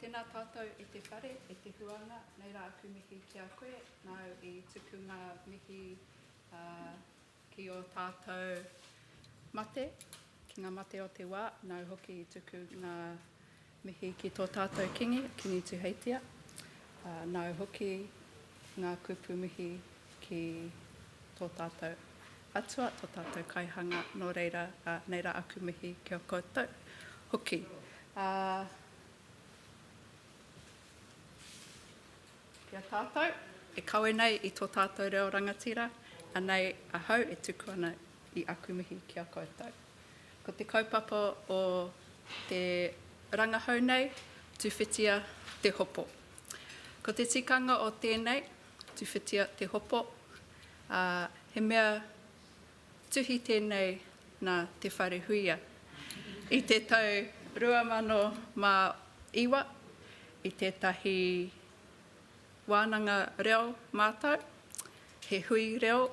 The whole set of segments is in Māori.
Tēnā tātou e te whare, e te huanga, nei rā aku mihi ki a koe, nāu i tuku ngā mihi, ā, Ki ō tātou mate, ki ngā mate o te wā, nāu hoki i tuku ngā mihi ki tō tātou Kīngi, Kīngi Tuheitia, ā, nāu hoki ngā kupu mihi ki tō tātou Atua, tō tātou Kaihanga, nō reira, ā, nei rā aku mihi ki a koutou hoki. Ā. Ki a tātou, e kawe nei i tō tātou reo rangatira, anei ahau e tuku ana i aku mihi ki a koutou. Ko te kaupapa o te rangahau nei, tuwhitia te hopo. Ko te tikanga o tēnei, tuwhitia te hopo, ā, he mea Tuhi tēnei nā Te Wharehuia i te tau 2009 i tētahi wānanga reo mātau, he hui reo,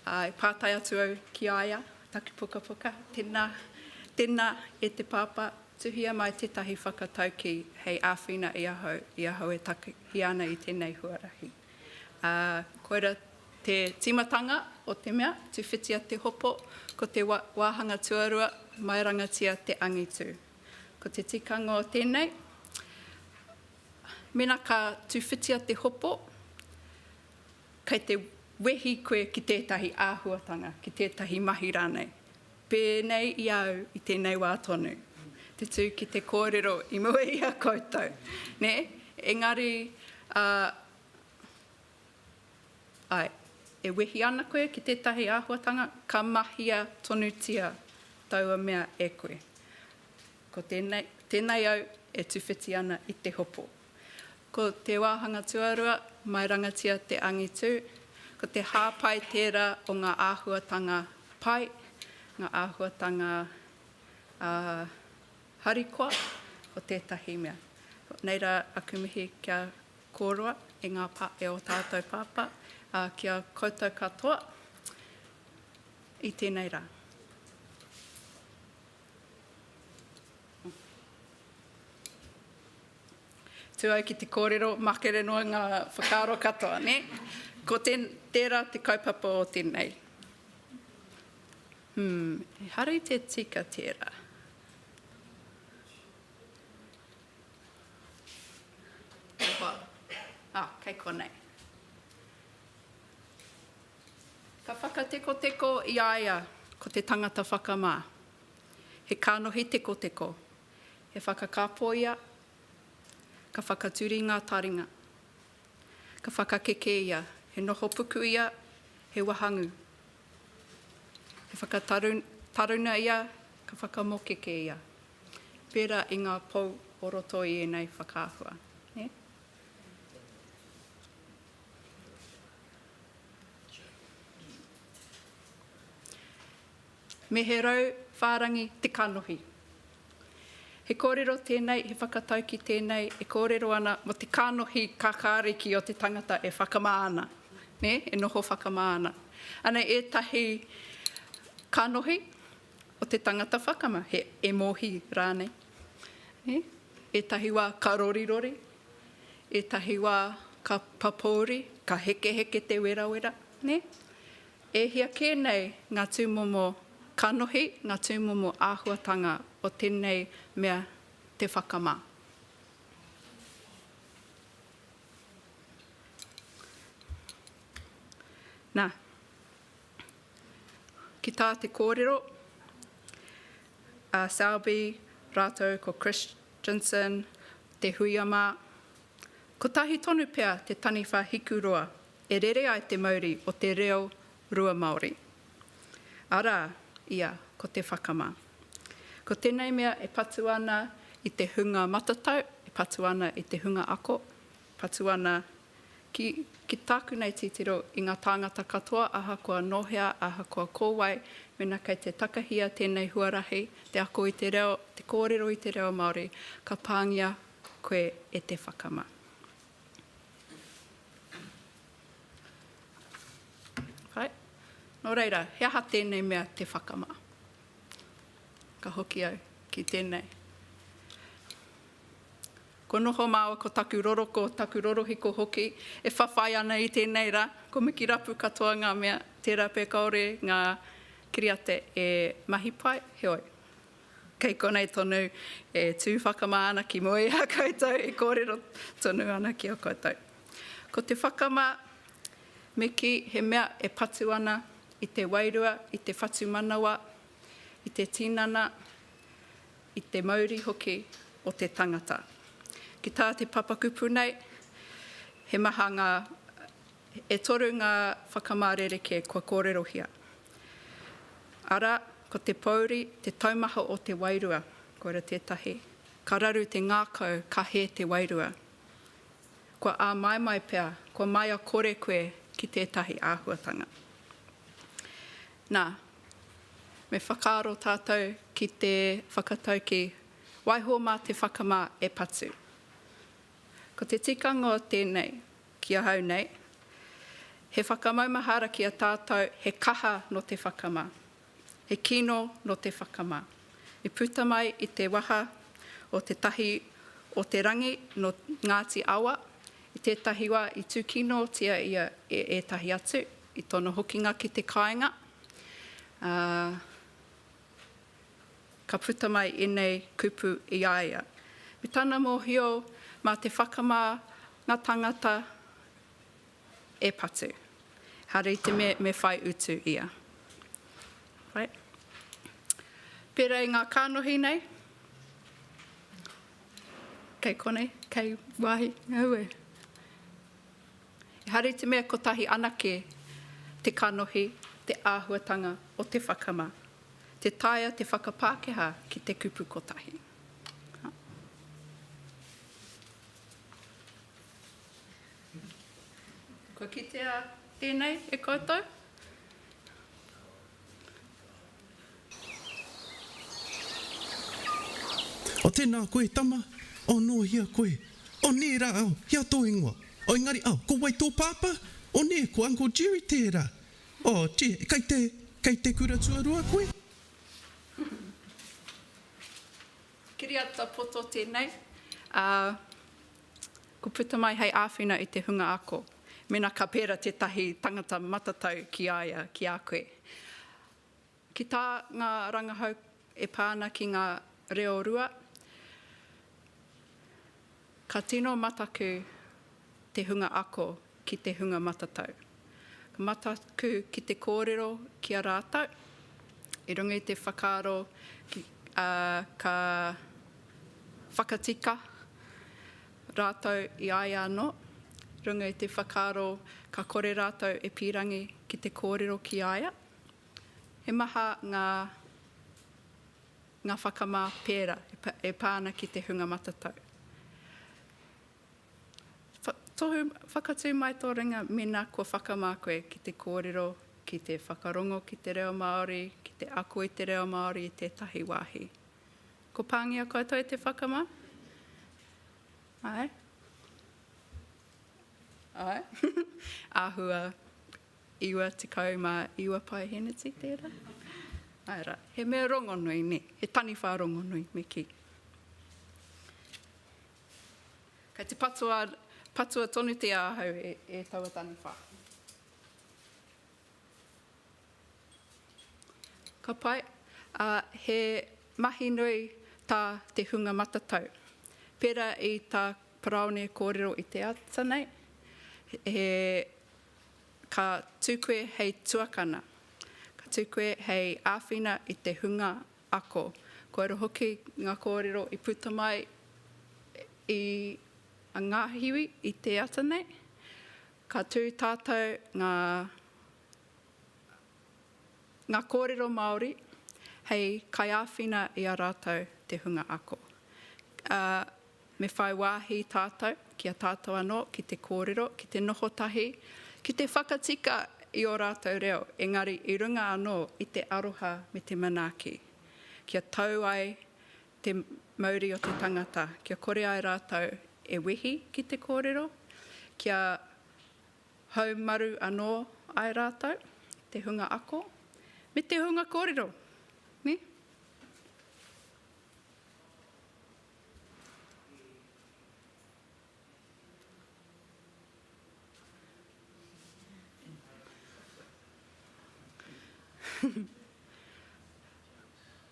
ā, e pātai atu au ki a ia, taku pukapuka, tēnā, tēnā e te Pāpā, tuhia mai tētahi whakataukī hei āwhina i ahau, i ahau e takahia ana i tēnei huarahi. Ā, koira te tīmatanga o te mea, tuwhitia te hopo, ko te wāhanga tuarua, maerangatia te angitu. Ko te tikanga o tēnei, mēnā ka tuwhitia te hopo, kei te wehi koe ki tētahi āhuatanga, ki tētahi mahi rānei. Pēnei i a au i tēnei wā tonu te tū ki te kōrero i mua i a koutou, nē, engari, ā, āe, e wehi ana koe ki tētahi āhuatanga, ka mahia tonutia taua mea e koe. Ko tēnei, tēnei au e tuwhiti ana i te hopo. Ko te wāhanga tuarua, mairangatia te angitu, ko te hāpai tērā o ngā āhuatanga pai, ngā āhuatanga harikoa o tētahi mea. Nei rā aku mihi kia kōrua e ngā pā, e ō tātou pāpā, ā, ki a koutou katoa i tēnei rā. Tu au ki te kōrero, makere noa ngā whakaaro katoa, nē? Ko tērā te kaupapa o tēnei. Hum, ehara i te tika tērā. Oho, ah, kei konei. Ka whakatekoteko i a ia ko te tangata whakamā. He kānohi tekoteko. He whakakapo ia, ka whakaturi ngā taringa. Ka whakakeke ia, he noho puku ia, he wahangū. He whakataruna ia, ka whakamokeke ia, pērā i ngā pou o roto i ēnei whakaahua. Nē? me he rau whārangi te kanohi. He kōrero tēnei, he whakataukī tēnei e kōrero ana mō te kanohi kakāriki o te tangata e whakamā ana, nē, e noho whakamā ana. Anei ētahi kanohi o te tangata whakama, he emohi rānei. Nē, ētahi wā ka rorirori, ētahi wā ka papouri, ka hekeheke te werawera, nē. E hia kē nei ngā tūmomo kanohi, ngā tūmomo āhuatanga o tēnei mea te whakamā. Nā, ki tā te kōrero a Selby rātou ko Christensen, Te Huia mā, kotahi tonu pea te taniwha hikuroa e rere ai te mauri o te reo rua Māori, arā, ia ko te whakamā. Ko tēnei mea e patu ana i te hunga matatau, e patu ana i te hunga ako, patu ana ki, ki tāku nei titiro, i ngā tāngata katoa ahakoa nō hea, ahakoa ko wai, mēnā kei te takahia tēnei huarahi, te ako i te reo, te kōrero i te reo Māori, ka pāngia koe e te whakamā. Kai. Nō reira, he aha tēnei mea te whakama? Ka hoki au ki tēnei. Ko noho māua, ko taku roroko, taku rorohiko hoki, e whawhai ana i tēnei rā. Ko Miki Rapu katoa ngā mea, tērā pea kāore ngā kiriata e mahi pai, heoi. Kei konei tonu e tū whakamā ana ki mua i a koutou e kōrero tonu ana ki a koutou. Ko te whakamā, me kī he mea e patu ana i te wairua, i te whatumanawa, i te tinana, i te mauri hoki o te tangata. Ki tā te papakūpū nei, he maha ngā. E toru ngā whakamā rerekē kua kōrerohia, arā, ko te pōuri, te taumaha o te wairua, koira tētahi, ka raru te ngākau, ka hē te wairua. Kua āmaimai pea, kua maia kore koe ki tētahi āhuatanga. Nā, me whakaaro tātou ki te whakataukī, waiho mā te whakamā e patu. Ko te tikanga o tēnei, Ki ahau nei, he whakamaumahara ki a tātou he kaha nō te whakamā, he kino nō te whakamā, i puta mai i te waha o Te Tahi o te Rangi nō Ngāti Awa, i tētahi wā i tūkinotia ia e ētahi atu, i tōna hokinga ki te kāinga, ā, Ka puta mai enei kupu i a ia. Me tana mohio ma te whakama nga tangata e patu. Hare i te me me whai utu ia. Right. Pera i nga kanohi nei. Kei konei, kei wahi, aue. Ehara i te mea kotahi anake te kanohi, te āhuatanga o te whakama, tē taea te whakapākehā ki te kupu kotahi. Kua kitea tēnei e koutou? O tēnā koe, tama? O nō hea koe? O nē rā au, he a tō ingoa? O engari au, ko wai tō pāpā? O nē, ko Uncle Jerry tērā? O, tē, kei te, kei te kura tuarua koe? Kiriata poto tēnei, ā. Ko puta mai hei āwhina i te hunga ako, mēnā ka pērā tētahi tangata matatau ki a ia, ki a koe. Ki tā ngā rangahau e pā ana ki ngā reo rua, ka tino mataku te hunga ako ki te hunga matatau. Ka mataku ki te kōrero ki a rātou, i runga i te whakaaro ka whakatika rātou i a ia anō, runga i te whakaaro ka kore rātou e pīrangi ki te kōrero ki a ia. He maha ngā ngā whakamā pērā e pā ana ki te hunga matatau. Tohu, whakatū mai tō ringa mēnā kua whakamā koe ki te kōrero, ki te whakarongo ki te reo Māori, ki te ako i te reo Māori i tētahi wāhi. Ko pāngia koutou i te whakamā? Āe? Āe? Āhua 99 paeheneti tērā? Āe rā, he mea rongonui, nē, he taniwha rongonui me kī. Kei te patua, patua tonutia ahau e, e taua taniwha. Ka pai, ā, he mahi nui tā te hunga matatau. Pērā i tā Paraone kōrero i te ata nei, he, ka tū koe hei tuakana, ka tū koe hei āwhina i te hunga Ako. Kua roa hoki ngā kōrero i puta mai i a Ngahiwi i te ata nei. Ka tū tātou ngā ngā kōrero Māori hei kaiāwhina i a rātou te hunga ako. Me whai wāhi tātou ki a tātou anō ki te kōrero, ki te noho tahi, ki te whakatika i ō rātou reo, engari i runga anō i te aroha me te manaaki, kia tau ai te mauri o te tangata, kia kore ai rātou e wehi ki te kōrero, kia haumaru anō ai rātou te hunga ako me te hunga kōrero.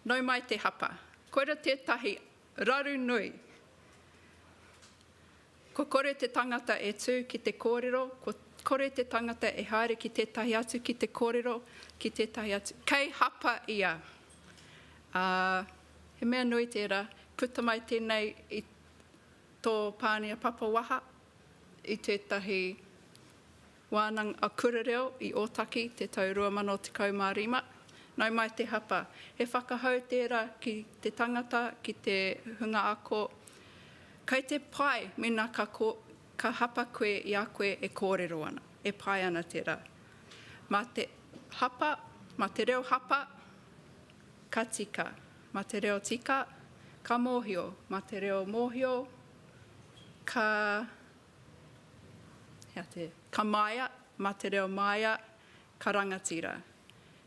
Nau mai te hapa. Koira tētahi raru nui. Ko kore te tangata e tū ki te kōrero, ko kore te tangata e haere ki tētahi atu ki te kōrero, ki tētahi atu. Kei hapa ia. Ā, he mea nui tērā, puta mai tēnei i tō Pānia Papa waha, i tētahi. Wānanga a Kura Reo i Ōtaki te tau 2015. Nau mai te hapa. He whakahau tērā ki te tangata, ki te hunga ako. Kai te pai mēnā ka ka hapa koe i a koe e kōrero ana, e pai ana tērā. Mā te hapa, mā te reo hapa, ka tika. Mā te reo tika, ka mōhio. Mā te reo mōhio, ka Ka māia, mā te reo māia, ka rangatira.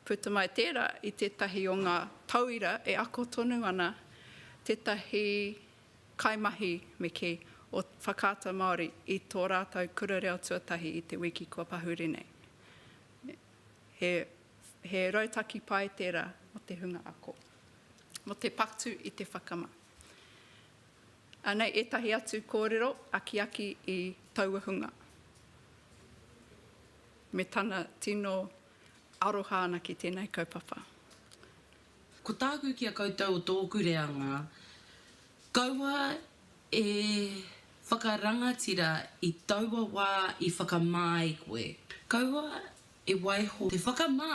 Puta mai tērā i tētahi o ngā tauira e ako tonu ana tētahi kaimahi me kī o Whakaata Māori i tō rātou kura reo tuatahi i te wiki kua pahuri nei. He rautaki pai tērā mō te hunga ako, mō te patu i te whakama. Anei ētahi atu kōrero akiaki i taua hunga me tana tino aroha ana ki tēnei kaupapa. Ko tāku ki a koutou o tōku reanga, kaua e whakarangatira i taua wā i whakamā ai koe. Kaua e waiho te whakamā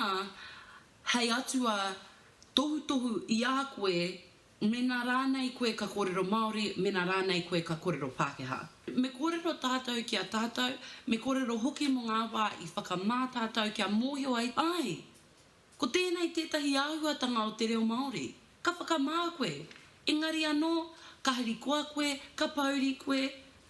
hei Atua tohutohu i a koe Mēnā rānei koe ka kōrero Māori, mēnā rānei koe ka kōrero Pākehā. Me kōrero tātou ki a tātou, me kōrero hoki mō ngā wā i whakamā tātou kia mōhio ai, āe, ko tēnei tētahi āhuatanga o te reo Māori. Ka whakamā koe, engari anō, ka harikoa koe, ka pōuri koe,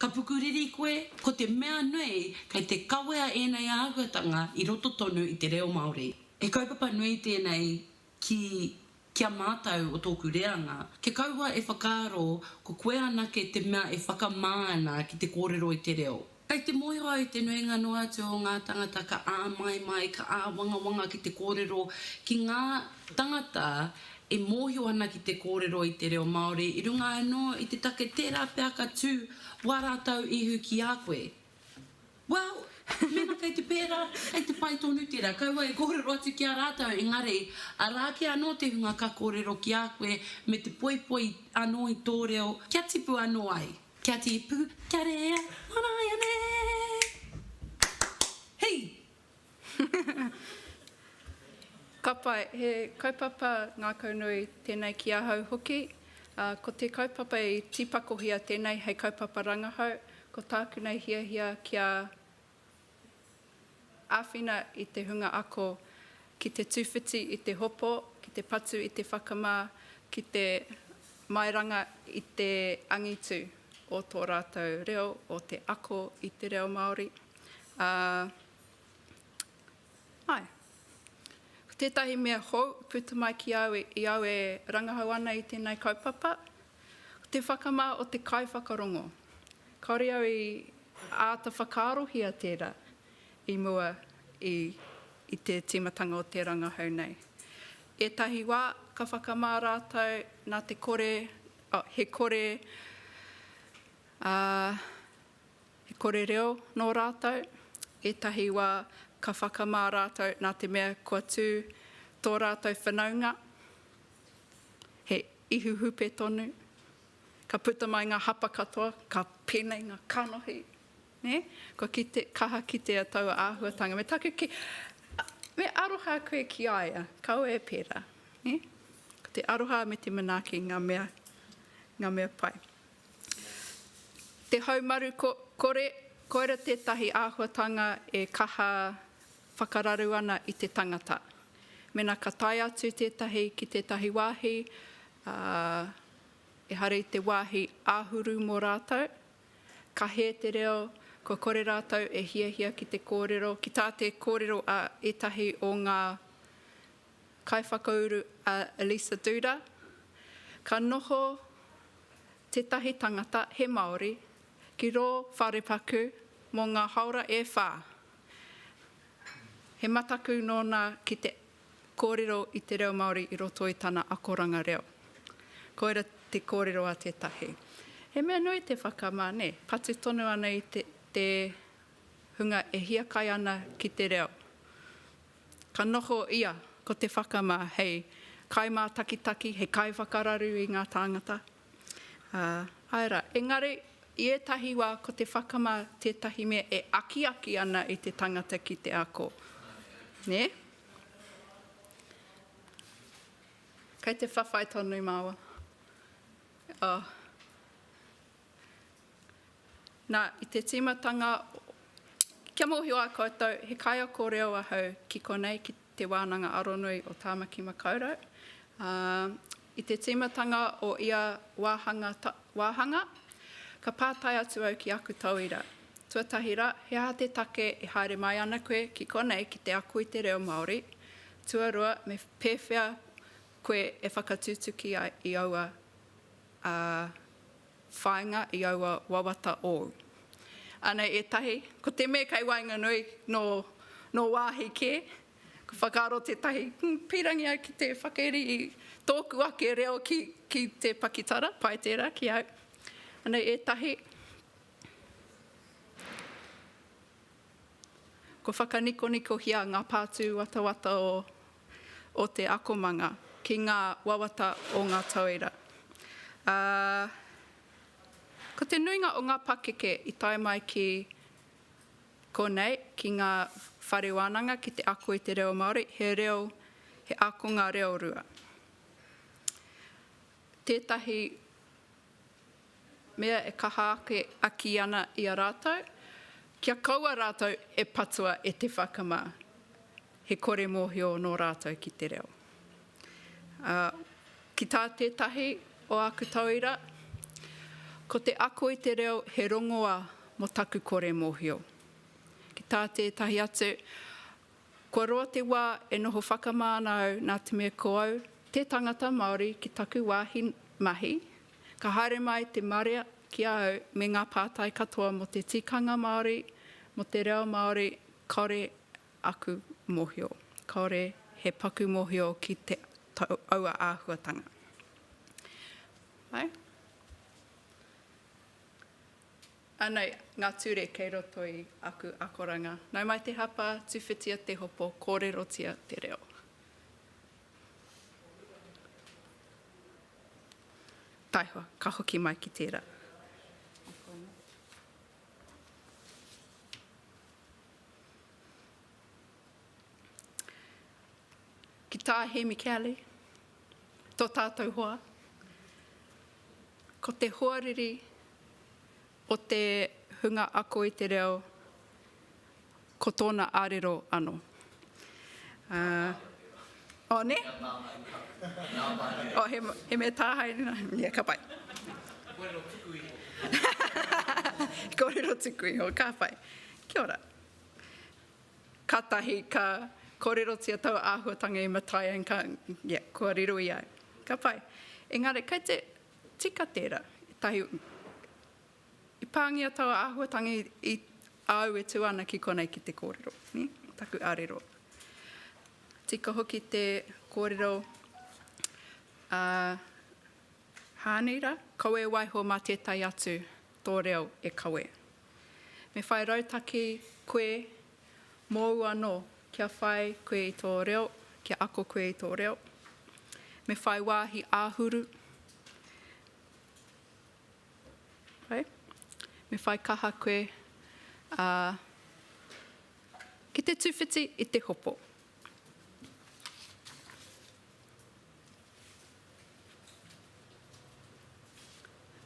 ka pukuriri koe, ko te mea nui kei te kawea ēnei āhuatanga i roto tonu i te reo Māori. He kaupapa nui tēnei ki, ki a mātou o tōku reanga, kia kaua e whakaaro ko koe anake te mea e whakamā ana ki te kōrero i te reo. Kei te mōhio au te nuinga noa atu o ngā tāngata ka āmaimai, ka āwangawanga ki te kōrero, ki ngā tāngata e mōhio ana ki te kōrero i te reo Māori, i runga anō i te take tērā pea ka tū wā rātou ihu ki a koe. Well, mena kei te pērā, kei te pai tonu tērā, kaua e kōrero atu ki a rātou, engari, arā ake anō te hunga ka kōrero ki a koe me te poipoi anō i tō reo, kia tipu anō ai. Kia tipu, kia rea, manaia nei! Hei! Ka pai, he kaupapa ngākau nui tēnei ki ahau hoki. Ko te kaupapa i tīpakohia tēnei hei kaupapa rangahau, ko tāku nei hiahia kia āwhina i te hunga ako ki te tūwhiti i te hopo, ki te patu i te whakamā, ki te mairanga i te angitu o tō rātou reo, o te ako i te reo Māori. Ā, āe, ko tētahi mea hou i puta mai ki au, i au e rangahau ana i tēnei kaupapa, ko te whakamā o te kaiwhakarongo. Kāore au i āta whakaarohia tērā i mua i te tīmatanga o te rangahau nei. Ētahi wā ka whakamā rātou nā te kore, he kore, ā, He kore reo nō rātou, ētahi wā ka whakamā rātou nā te mea kua tū tō rātou whanaunga, he ihu hupe tonu, ka puta mai ngā hapa katoa, ka pēnei ngā kanohi, nē? Kua kite, kaha kitea taua āhuatanga. Me taku kī, me aroha koe ki a ia, kaua e pērā, nē? Ko te aroha me te manaaki ngā mea, ngā mea pai. Te haumaru kore, koira tētahi āhuatanga e kaha whakararu ana i te tangata. Mēnā ka tae atu tētahi ki tētahi wāhi, ā, ehara i te wāhi āhuru mō rātou, ka hē te reo, kua kore rātou e hiahia ki te kōrero, ki tā te kōrero a ētahi o ngā Kaiwhakauru a Lisa Duda, ka noho tētahi tangata he Māori ki rō wharepaku mō ngā haora e whā. He mataku nōna ki te kōrero i te reo Māori i roto i tana akoranga reo. Koira te kōrero a tētahi. He mea nui te whakamā, nē, patu tonu ana i te hunga e hiakai ana ki te reo. Ka noho ia ko Te Whakamā hei kaimātakitaki, hei kaiwhakararu i ngā tāngata, ā, āe rā. Engari, i ētahi wā ko Te Whakamā tētahi mea e akiaki ana i te tangata ki te ako, nē? Kei te whawhai tonu māua. Oh. Nā, i te tīmatanga, kia mōhio ai koutou, he kaiako reo ahau ki konei, ki Te Wānanga Aronui o Tāmaki Makaurau. Ā, i te tīmatanga o ia wāhanga, wāhanga, ka pātai atu au ki aku tauira, tuatahi rā, he aha te take e haere mai ana koe ki konei ki te ako i te reo Māori, tuarua, me pēwhea koe e whakatutuki ai i aua ā, whāinga i aua wawata ōu. Anei ētahi, ko te me kei waenganui nō wāhi kē, ka whakaaro tētahi, hm, pīrangi au ki te whakairi i tōku ake reo ki te pakitara, pai tērā ki au. Anei ētahi. Kua whakanikonikohia ngā pātū watawata o te akomanga ki ngā wawata o ngā tauira, ā, ko te nuinga o ngā pakeke i tae mai ki konei, ki ngā whare wānanga ki te ako i te reo Māori, he reo, he ākonga reo rua. Tētahi. mea e kaha ake aki ana i a rātou, kia kaua rātou e patua e te whakamā, he kore mōhio nō rātou ki te reo. Ā, ki tā tētahi o āku tauira, Ko te ako i te reo he rongoa mō taku kore mōhio. Ki tā tētahi atu, Kua roa te wā e noho whakamā ana au nā te mea ko au te tangata Māori ki taku wāhi mahi, ka haere mai te marea ki a au me ngā pātai katoa mō te tikanga Māori, mō te reo Māori, kāore aku mōhio, kāore he paku mōhio ki aua āhuatanga. Āe. Anei ngā ture kei roto i aku akoranga. Nau mai te hapa, tuwhitia te hopo, kōrerotia te reo. Taihoa, ka hoki mai ki tērā. Ki tā Hēmi Kelly, tō tātou hoa, ko te hoariri o te hunga ako i te reo, ko tōna arero ano. Ā. Oh, nē? Oh, he, he mea tāhae nā. Yeah, ka pai. Kōrero tuku iho. Kōrero tuku iho, ka pai. Kia ora. Katahi ka korerotia tau ahuatanga i Matai and ka, ia, kua riro ia. Ka pai. Engari kei te tika tera, etahi, i pangia tau ahuatanga i, i, a au e tu ana ki konei ki te korero, ni, taku arero. Tika hoki te korero a Haani ra, kaua e waiho ma tetai atu. Tō reo e kawe. Me whai rautaki koe mōu anō kia whai koe i tō reo, kia ako koe i tō reo. Me whai wāhi āhuru. Me whai kaha koe ki te tuwhiti i te hopo.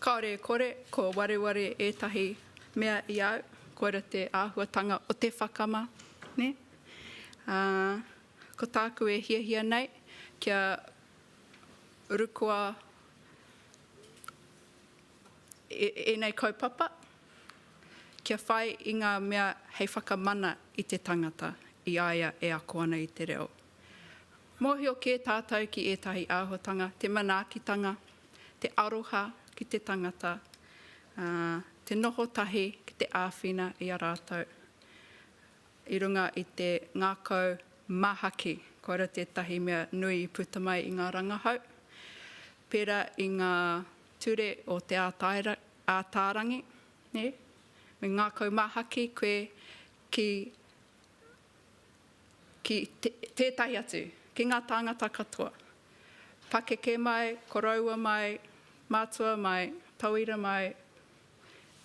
Kāore e kore, kua wareware ētahi mea i a au, koira te āhuatanga o te whakama, nē? Ā, ko tāku e hiahia nei, kia rukoa ēnei kaupapa, kia whai i ngā mea hei whakamana i te tangata, i a ia e ako ana i te reo. Mōhio kē tātou ki ētahi āhuatanga, te manaakitanga, te aroha ki te tangata, ā, te noho tahi ki te āwhina i a rātou i runga i te ngākau māhaki. Koira tētahi mea nui i puta mai i ngā rangahau, pērā i ngā ture o Te Ātaarangi, nē? Me ngākau māhaki koe ki. ki tētahi atu, ki ngā tāngata katoa, pakeke mai, koroua mai, mātua mai, tauira mai,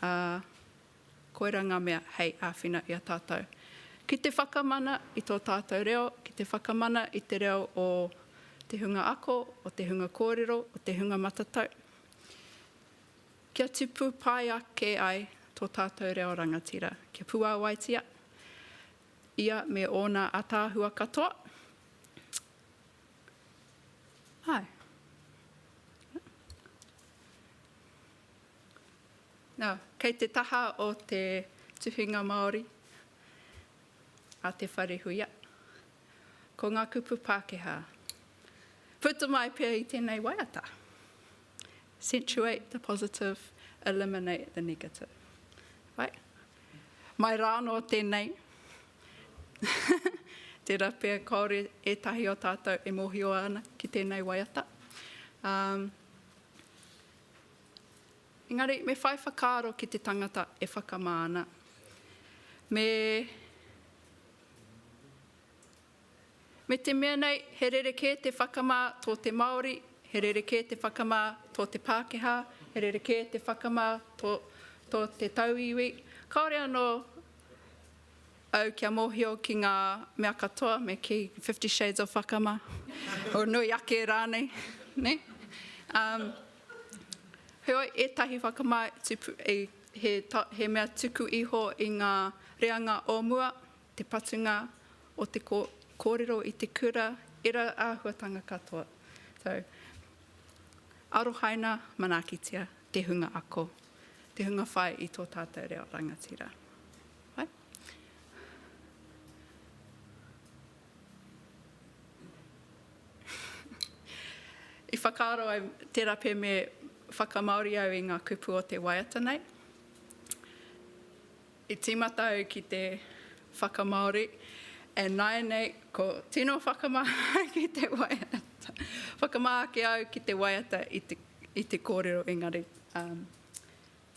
ā, koirā ngā mea hei āwhina i a tātou. Ki te whakamana i tō tātou reo, ki te whakamana i te reo o te hunga ako, o te hunga kōrero, o te hunga matatau. Kia tipu pai ake ai tō tātou reo rangatira, kia puāwaitia ia me ōna ātaahua katoa. Āe. Nā, kei te taha o te tuhinga Māori a Te Wharehuia, ko ngā kupu Pākehā. Puta mai pea i tēnei waiata. Accentuate the positive, eliminate the negative. Right? Mai rā anō tēnei, tērā pea kāore ētahi o tātou e mōhio ana ki tēnei waiata. Um, engari, me whai whakaaro ki te tangata e whakamā ana. Me Me te mea nei, he rerekē te whakamā tō te Māori, he rerekē te whakamā tō te Pākehā, he rerekē te whakamā tō tō te tauiwi, kāore anō au kia mōhio ki ngā mea katoa me kī Fifty Shades of Whakamā, or nui ake rānei, nē? Um, heoi, ētahi whakamā he, he mea tuku iho i ngā reanga o mua, te patunga o te kōrero i te kura, ērā āhuatanga katoa. So, arohaina, manaakitia te hunga ako, te hunga whai i tō tātou reo rangatira. Right? I whakaaro ai tērā pē me whakamaori au i ngā kupu o te waiata nei. I tīmata au ki te whakamāori e nāianei ko tino whakamahana ki te waiata. Whakamā ake au ki te waiata i te kōrero engari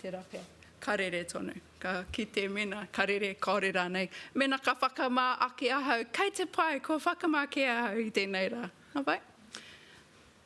tērā pea, ka rere tonu. Ka kite mēnā ka rere kāore rānei. Mēnā ka whakamā ake ahau, kei te pai, kua whakamā kē ahau i tēnei rā. Nā wai?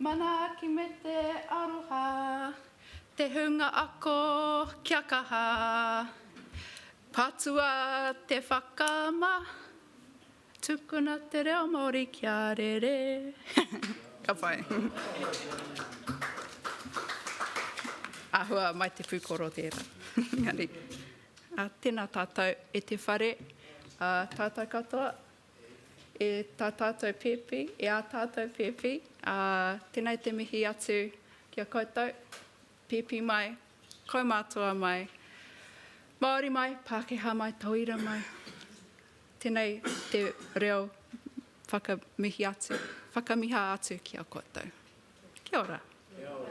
Manaaki me te aroha, te hunga ako kia kaha, patua te whakaama, tukuna te reo Māori kia rere. Ka pai. Āhua mai te pūkoro tērā. Engari, tēnā tātou e te whare, tātou katoa. E tā tātou pēpi, e ā tātou pēpi, ā, tēnei te mihi atu ki a koutou, pēpi mai, kaumātua mai, Māori mai, Pākehā mai, Tauira mai, tēnei te reo whakamihi atu, whakamiha atu ki a koutou. Kia ora. Kia ora.